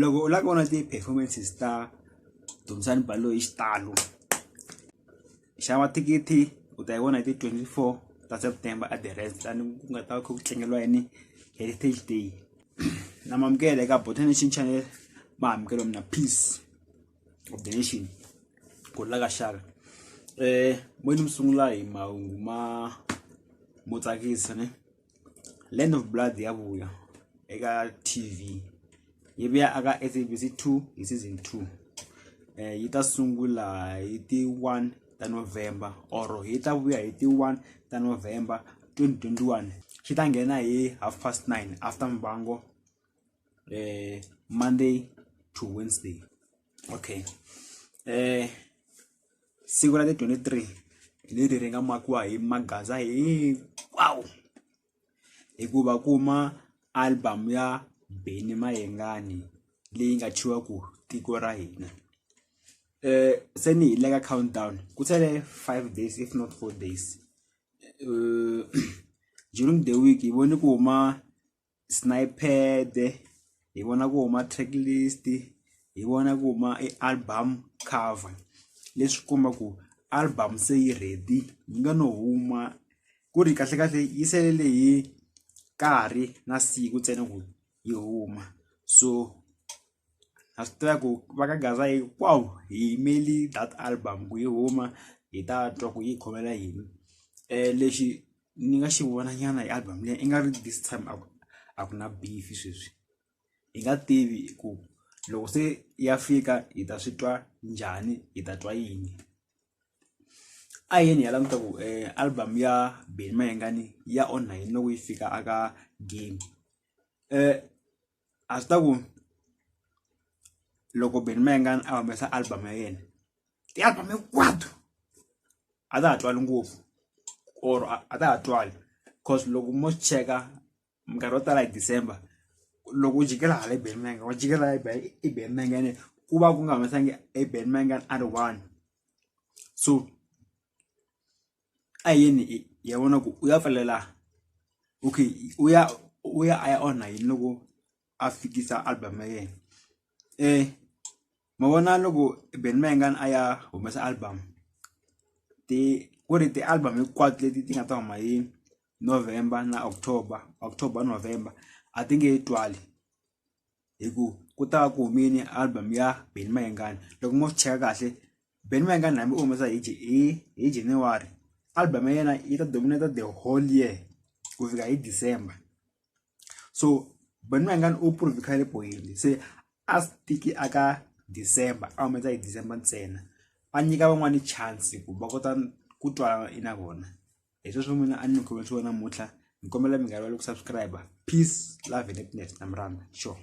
loko u lava ku vona ti-performances ta Dumisani Baloyi hi xitalo xava thikithi u ta yi vona hi ti twenty four ta September a the rest laha ku nga ta va kha ku tlangeriwa yini heritage day na mi amukela eka Botha Nation Channel ma amukela mina peace of the nation ku la ka xaka moyeni mi sungula hi mahungu ma mo tsakisa ne. Land of Blood ya vuya eka TV yi vuya aka SABC 2 hi season 2 eh yi ta sungula hi ti 1 ta November or yi ta vuya hi ti 1 ta November 2021 xi ta nghena hi half past 9 after mbango eh Monday to Wednesday okay eh siku ra ti 23 hi leri ri nga makiwa hi maghaza hinkwawo hikuva kuma album ya Benny Mayengani leyi nga tshiwa ku tiko ra hina eh se ni hi le ka countdown ku sele 5 days if not 4 days uh, during the week hi vone ku huma sniped hi vona ku huma track list hi vona ku huma e album cover leswi komba ku album se yi ready yi nga no huma ku ri kahle kahle yi selele hi nkarhi na siku ntsena ku yi huma so a swi tiva ku va ka gaza yi wow hi yimeli that album ku yi huma hi ta twa ku yi khomela yini um lexi ni nga xi vona nyana hi album leyi i nga ri this time a ku a ku na beef sweswi hi nga tivi ku loko se ya fika hi ta swi twa njhani hi ta twa yini a yini ya languta ku um album ya Benny Mayengani ya onha yini loko yi fika aka game um a swi ta ku loko Benny Mayengani a humesa album ya yena ti-album hinkwato a ta ha twali ngopfu or a ta ha twali cause loko mo swi cheka minkarhi yo tala hi December loko u jikela hala i Benny Mayengani wa jikela i Benny Mayengani ku va ku nga humesangi i Benny Mayengani a ri one so. a hi yeni hi ya vona ku u ya pfalela okay u ya u ya a ya onha yini loko a fikisa album ya yena ma vona loko Benny Mayengani a ya humesa album ti ku ri ti-album hinkwato leti ti nga ta huma hi November na October October November a ti nge twali. hi ku ku ta va ku humile album ya Benny Mayengani loko mo swi cheka kahle Benny Mayengani hambi u humesa hi hi hi January album ya yena yi ta dominate the whole year ku fika hi December so Benny Mayengani u prove khale point se a stiki aka December a humesa hi December ntsena a nyika van'wani chance ku va kota ku twala na vona hi sweswo n'wina a ni mi khomisiwa namuntlha ni kombela mi nga rivali ku subscribe peace love and happiness na mi rhandza sure